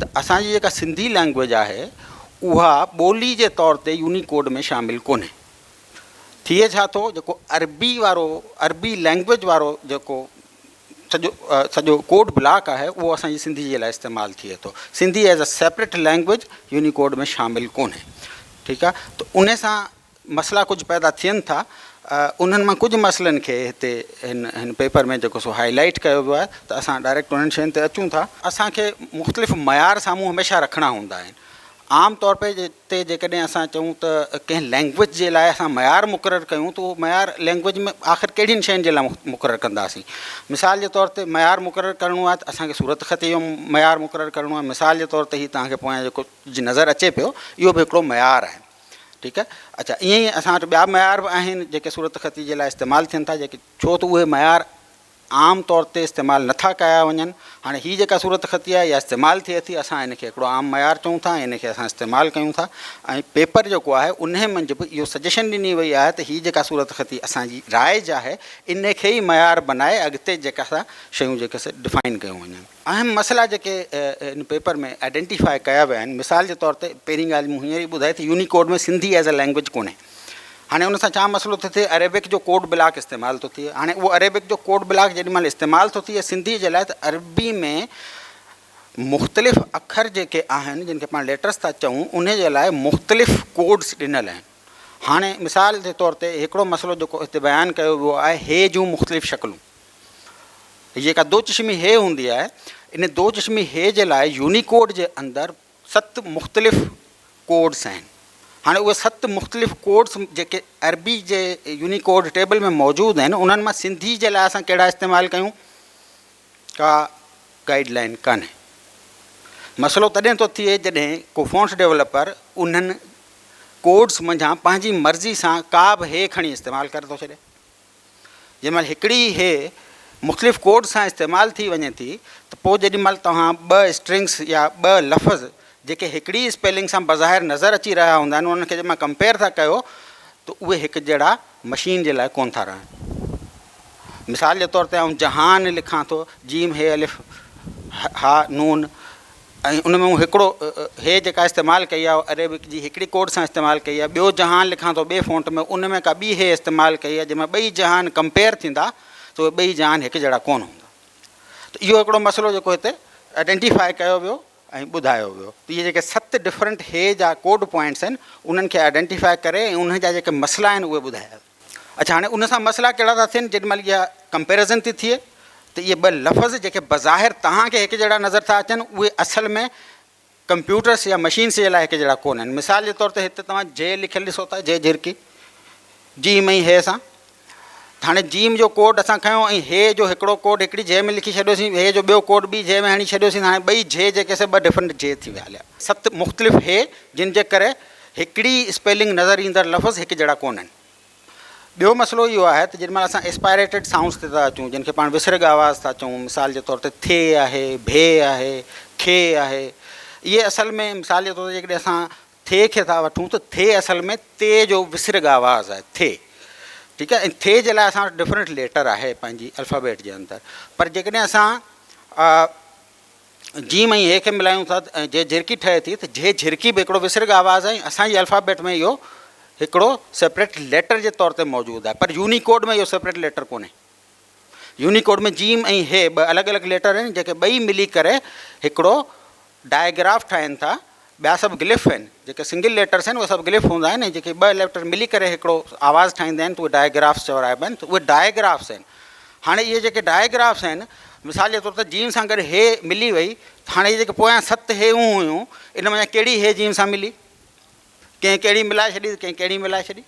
ته اسان جي جيڪا سنڌي لئنگويج آهي اها ٻولي جي طور تي يونيڪوڊ ۾ شامل ڪونهي. ٿئي ڇا ٿو جيڪو عربي وارو عربي لئنگويج وارو جيڪو سڄو سڄو ڪوڊ بلاڪ آهي اهو اسان جي سنڌي جي لاء استعمال ٿئي ٿو. Sindhi as a separate language Unicode ۾ شامل ڪونهي. ٺيڪ آهي ته ان سان مسئلا ڪجهه پيدا ٿين ٿا انهن مان ڪجهه مسئلن کي هتي هن هن پيپر ۾ جيڪو سو هائي لائيٽ ڪيو ويو آهي ته اسان ڊائريڪٽ انهن شين تي اچون ٿا. اسان کي مختلف معيار سامهون هميشه رکڻا هوندا آهن عام طور پي تي جيڪڏهن اسان چئون ته ڪنهن لينگويج جي لاء اسان معيار مقرر ڪيون ته اهو معيار لينگويج ۾ آخر ڪهڙين شين جي لاء مقرر ڪنداسين مثال جي طور تي معيار مقرر ڪرڻو آهي ته اسان کي صورت خطي جو معيار مقرر ڪرڻو آهي مثال جي طور تي هي توهان کي پويان جيڪو جي نظر اچي پيو اهو به هڪڙو معيار آهي ٺيڪ آهي اچا ائين ئي اسان وٽ ٻيا معيار به آهن جيڪي صورت خطي جي لاء استعمال ٿين ٿا جيڪي ڇو ته اهي معيار عام طور تي استعمال نٿا ڪيا وڃن هاڻي هي جيڪا صورت خطي آهي اها استعمال ٿئي ٿي اسان ان کي هڪڙو عام معيار چئون ٿا ۽ ان کي اسان استعمال ڪيون ٿا ۽ پيپر جيڪو آهي ان منجهه به اهو سجيشن ڏني وئي آهي ته هي جيڪا صورت خطي اسان جي رائج آهي ان کي ئي معيار بنائي اڳتي جيڪا سا شيون جيڪي سا ڊفائن ڪيون وڃن اهم مسئلا جيڪي ان پيپر ۾ آئيڊينٽيفاء ڪيا ويا آهن مثال جي طور تي پهرين ڳالهه مون هينئر ئي ٻڌائي ته Unicode ۾ Sindhi as a language ڪونهي هاڻي ان سان ڇا مسئلو ٿو ٿئي عربڪ جو ڪوڊ بلاڪ استعمال ٿو ٿئي هاڻي اهو عربڪ جو ڪوڊ بلاڪ جيڏي مهل استعمال ٿو ٿئي سنڌي جي لاء ته عربي ۾ مختلف اکر جيڪي آهن جن کي پاڻ ليٽرس ٿا چئون ان جي لاء مختلف ڪوڊس ڏنل آهن هاڻي مثال جي طور تي هڪڙو مسئلو جيڪو هتي بيان ڪيو ويو آهي هي جون مختلف شڪلون هي جيڪا دو چشمي هي هوندي آهي ان دو چشمي هي جي لاء يونيڪوڊ جي اندر ست مختلف ڪوڊس آهن هاڻي اهي ست مختلف ڪوڊس جيڪي عربي جي يونيڪوڊ ٽيبل ۾ موجود آهن انهن مان سنڌي جي لاء اسان ڪهڙا استعمال ڪيون ڪا گائيڊ لائن ڪانه مسئلو تڏهن ٿو ٿئي جڏهن کو فونس ڊيولپر انهن ڪوڊس منجھان پنهنجي مرضي سان ڪا به هي کڻي استعمال ڪري ٿو ڇڏي جنهن مهل هڪڙي ئي هي مختلف ڪوڊ سان استعمال ٿي وڃي ٿي ته پوء جيڏي مهل توهان ٻه اسٽرنگس يا ٻه لفظ جيڪي هڪڙي ئي اسپيلنگ سان بظاهر نظر اچي رهيا هوندا آهن انهن کي جڏهن ڪمپيئر ٿا ڪيو ته اهي هڪ جهڙا مشين جي لاء ڪونه ٿا رهن مثال جي طور تي آئون جهان لکان ٿو جيم هي الف ها نون ۽ ان ۾ مون هڪڙو هي جيڪا استعمال ڪئي آهي اهو عريبڪ جي هڪڙي ڪوڊ سان استعمال ڪئي آهي ٻيو جهان لکان ٿو ٻئي فونٽ ۾ ان ۾ ڪا ٻي هي استعمال ڪئي آهي جنهن ۾ ٻئي جهان ڪمپيئر ٿيندا ته اهي ٻئي جهان هڪ جهڙا ڪونه هوندا ته اهو هڪڙو مسئلو جيڪو هتي آئيڊينٽيفائي ڪيو ويو ۽ ٻڌايو ويو ته اهي جيڪي ست ڊفرنٽ هي جا ڪوڊ پوائنٽس آهن انهن کي آئيڊينٽيفائي ڪري ۽ انهن جا جيڪي مسئلا آهن اهي ٻڌايا ويا اڇا هاڻي ان سان مسئلا ڪهڙا ٿا ٿين جيڏي مهل اها ڪمپيرزن ٿي ٿئي ته اهي ٻه لفظ جيڪي بظاهر توهان کي هڪ جهڙا نظر ٿا اچن اهي اصل ۾ ڪمپيوٽرس يا مشينس جي لاء هڪ جهڙا ڪونهن مثال جي طور تي هتي توهان جي لکيل ڏسو ٿا جي جهرڪي جيم ۽ هي سان هاڻي جيم جو ڪوڊ اسان کنيو ۽ هي جو هڪڙو ڪوڊ هڪڙي جي ۾ لکي ڇڏيوسين هي جو ٻيو ڪوڊ ٻي جي ۾ هڻي ڇڏيوسين هاڻي ٻئي جي جيڪي سي ٻه ڊفرنٽ جي ٿي ويا هليا ست مختلف هي جن جي ڪري هڪڙي اسپيلنگ نظر ايندڙ لفظ هڪ جهڙا ڪونهن. ٻيو مسئلو اهو آهي ته جيڏي مهل اسان اسپائريٽيڊ سائونڊز تي ٿا اچون، جن کي پاڻ وسرڳ آواز ٿا چئون، مثال جي طور تي ٿي آهي، ڀي آهي، کي آهي، اهي اصل ۾ مثال جي طور تي جيڪڏهن اسان ٿي کي ٿا وٺون ته ٿي اصل ۾ تي جو وسرڳ آواز آهي، ٿي، ٺيڪ آهي، ۽ ٿي جي لاء اسان وٽ ڊفرنٽ ليٽر آهي پنهنجي الفابيٽ جي اندر، پر جيڪڏهن اسان جيم ۽ هي کي ملايون ٿا ۽ جي جهرڪي ٺهي ٿي ته جي جهرڪي به هڪڙو وسرگهه آواز آهي ۽ اسان جي الفابيٽ ۾ اهو هڪڙو سيپريٽ ليٽر جي طور تي موجود آهي پر يونيڪوڊ ۾ اهو سيپريٽ ليٽر ڪونهي. يونيڪوڊ ۾ جيم ۽ هي ٻه الڳ الڳ ليٽر آهن جيڪي ٻئي ملي ڪري هڪڙو ڊائگراف ٺاهين ٿا ٻيا سڀ گلف آهن جيڪي سنگل ليٽرس آهن اهي سڀ گلف هوندا آهن ۽ جيڪي ٻه ليٽر ملي ڪري هڪڙو آواز ٺاهيندا آهن ته اهي ڊائگرافس چورائبا آهن ته اهي ڊائگرافس آهن هاڻي اهي جيڪي ڊائگرافس آهن مثال جي طور تي جيم سان گڏ هي ملي وئي ته هاڻي جيڪي پويان ست هيون هيون ان مان ڪهڙي هي جيم سان ملي ڪنهن ڪهڙي ملائي ڇڏي ڪنهن ڪهڙي ملائي ڇڏي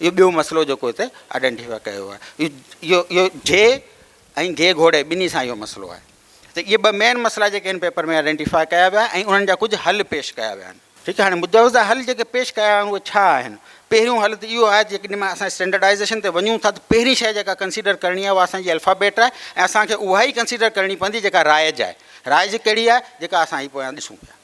اهو ٻيو مسئلو جيڪو هتي آئيڊينٽيفاء ڪيو ويو آهي اهو اهو جي ۽ گي گهوڙي ٻنهي سان اهو مسئلو آهي ته اهي ٻه مين مسئلا جيڪي هن پيپر ۾ آئيڊينٽيفاء ڪيا ويا ۽ انهن جا ڪجهه حل پيش ڪيا ويا آهن ٺيڪ آهي هاڻي مجوزه حل جيڪي پيش ڪيا ويا آهن اهي ڇا آهن پهريون حل ته اهو آهي جيڪڏهن مه اسان اسٽينڊرڊائزيشن تي وڃون ٿا ته پهرين شي جيڪا ڪنسيڊر ڪرڻي آهي اها اسانجي الفابيٽ آهي ۽ اسانکي اها ئي ڪنسيڊر ڪرڻي پوندي جيڪا رائج آهي رائج ڪهڙي آهي جيڪا اسان هي پويان ڏسون پيا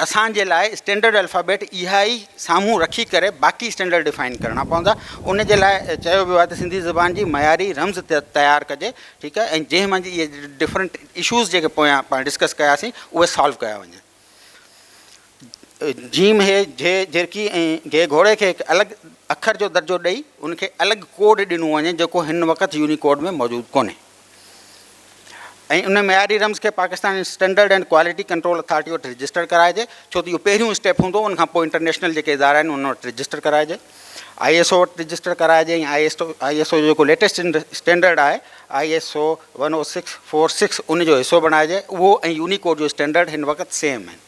اسان جي لاء اسٽينڊرڊ الفابيٽ اها ئي سامهون رکي ڪري باقي اسٽينڊرڊ ڊفائن ڪرڻا پوندا. ان جي لاء چيو ويو آهي ته سنڌي زبان جي معياري رمز تيار ڪجي ٺيڪ آهي ۽ جنهن منجهه اهي ڊفرنٽ اشوز جيڪي پويان پاڻ ڊسڪس ڪياسين اهي سالو ڪيا وڃن. جيم هي جي جرڪي ۽ گهي گهوڙي کي هڪ الڳ اکر جو درجو ڏئي ان کي الڳ ڪوڊ ڏنو وڃي جيڪو هن وقت يونيڪوڊ ۾ موجود ڪونهي. ۽ ان معياري رمز کي Pakistan standard and quality control authority وٽ رجسٽر ڪرائجي ڇو ته اهو پهريون اسٽيپ هوندو ان کان پوء انٽرنيشنل جيڪي ادارا آهن ان وٽ رجسٽر ڪرائجي آئي ايس او وٽ رجسٽر ڪرائجي ۽ I S O I S O جو جيڪو ليٽيسٽ اسٽينڈرڊ آهي I S O one O six four six ان جو حصو بڻائجي اهو ۽ يونيڪوڊ جو اسٽينڈرڊ هن وقت سيم آهن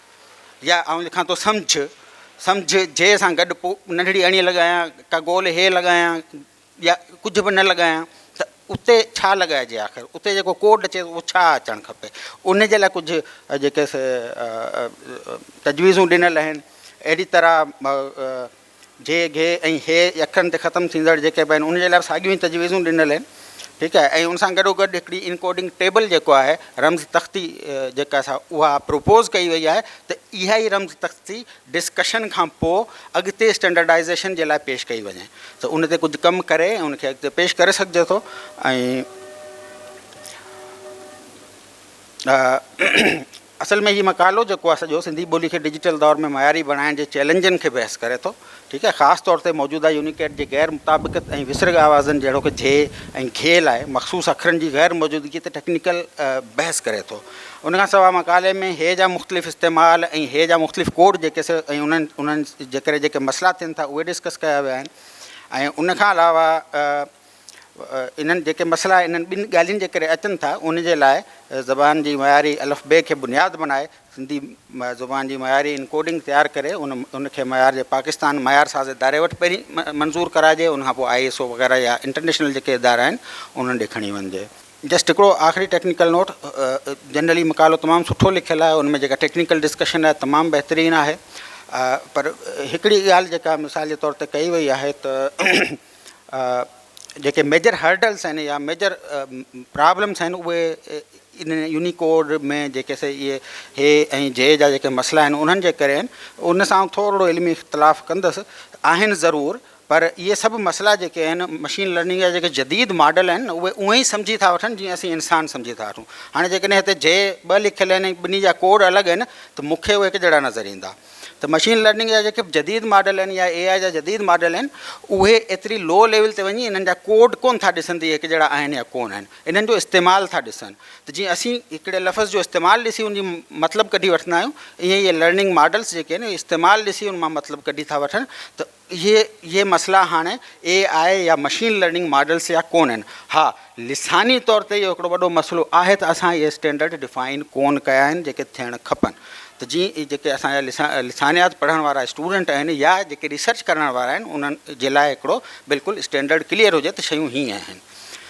يا آئون لکان ٿو سمجهه، سمجهه جي سان گڏ پوء ننڍڙي اڻي لڳايان، ڪا گول هي لڳايان يا ڪجهه به نه لڳايان ته اتي ڇا لڳائجي آخر اتي جيڪو ڪوڊ اچي اهو ڇا اچڻ کپي ان جي لاء ڪجهه جيڪي تجويزون ڏنل آهن اهڙي طرح جي، گهي ۽ هي اکرن تي ختم ٿيندڙ جيڪي به آهن ان جي لاء به ساڳيون ئي تجويزون ڏنل آهن ٺيڪ آهي ۽ ان سان گڏو گڏ هڪڙي انڪوڊنگ ٽيبل جيڪو آهي رمز تختي جيڪا سا اها پروپوز ڪئي وئي آهي ته اها ئي رمز تختي ڊسڪشن کان پوء اڳتي اسٽينڊرڊائيزيشن جي لاء پيش ڪئي وڃي ته ان تي ڪجهه ڪم ڪري ۽ ان کي اڳتي پيش ڪري سگهجي ٿو ۽ اصل ۾ هي مقالو جيڪو آهي سڄو سنڌي ٻولي کي ڊجيٽل دور ۾ معياري بڻائڻ جي چئلينجن کي بحث ڪري ٿو ٺيڪ آهي خاص طور تي موجوده يونيڪيڊ جي غير مطابقت ۽ وسرڳ آوازن جهڙوڪ جھي ۽ گھي لاء مخصوص اکرن جي غير موجودگي تي ٽيڪنيڪل بحث ڪري ٿو ان کان سواء مقالي ۾ هي جا مختلف استعمال ۽ هي جا مختلف ڪوڊ جيڪي سي ۽ انهن جي ڪري جيڪي مسئلا ٿين ٿا اهي ڊسڪس ڪيا ويا آهن ۽ ان کان علاوه انهن جيڪي مسئلا انهن ٻن ڳالهين جي ڪري اچن ٿا، ان جي لاء زبان جي معياري الف بي کي بنياد بنائي سنڌي زبان جي معياري ان ڪوڊنگ تيار ڪري ان ان کي معيار جي پاڪستان معيار ساز اداري وٽ پهرين منظور ڪرائجي ان کان پوء آء ايس او وغيره يا انٽرنيشنل جيڪي ادارا آهن انهن ڏي کڻي وڃجي. جسٽ هڪڙو آخري ٽيڪنيڪل نوٽ جنرلي مقالو تمام سٺو لکيل آهي ان ۾ جيڪا ٽيڪنيڪل ڊسڪشن آهي تمام بهترين آهي پر هڪڙي ڳالهه جيڪا مثال جي طور تي ڪئي وئي آهي ته جيڪي ميجر هرڊلس آهن يا ميجر پرابلمس آهن اهي ان يونيڪوڊ ۾ جيڪي سي اهي هي ۽ جي جا جيڪي مسئلا آهن انهن جي ڪري آهن ان سان ٿورڙو علمي اختلاف ڪندس آهن ضرور پر اهي سڀ مسئلا جيڪي آهن مشين لرننگ جا جيڪي جديد ماڊل آهن اهي اونهي ئي سمجهي ٿا وٺن جيئن اسين انسان سمجهي ٿا وٺون هاڻي جيڪڏهن هتي جي ٻه لکيل آهن ٻنهي جا ڪوڊ الڳ آهن ته مون کي اهي هڪ جهڙا نظر ايندا ته مشين لرننگ جا جيڪي به جديد ماڊل آهن يا اي آء جا جديد ماڊل آهن اهي ايتري لو ليول تي وڃي انهن جا ڪوڊ ڪون ٿا ڏسن ته اهي هڪ جهڙا آهن يا ڪون آهن انهن جو استعمال ٿا ڏسن ته جيئن اسين هڪڙي لفظ جو استعمال ڏسي ان جي مطلب ڪڍي وٺندا آهيون ايئن ئي لرننگ ماڊلس جيڪي آهن اهي استعمال ڏسي ان مان مطلب ڪڍي ٿا وٺن ته اهي اهي مسئلا هاڻي اي آء يا مشين لرننگ ماڊلز يا ڪون آهن. ها لساني طور تي اهو هڪڙو وڏو مسئلو آهي ته اسان اهي اسٽينڊرڊ ڊفائن ڪون ڪيا آهن جيڪي ٿيڻ کپن ته جي جيڪي اسان جا لسان لسانيات پڙهڻ وارا اسٽوڊنٽ آهن يا جيڪي ريسرچ ڪرڻ وارا آهن انهن جي لاء هڪڙو بلڪل اسٽينڊرڊ ڪليئر هجي ته شيون هي آهن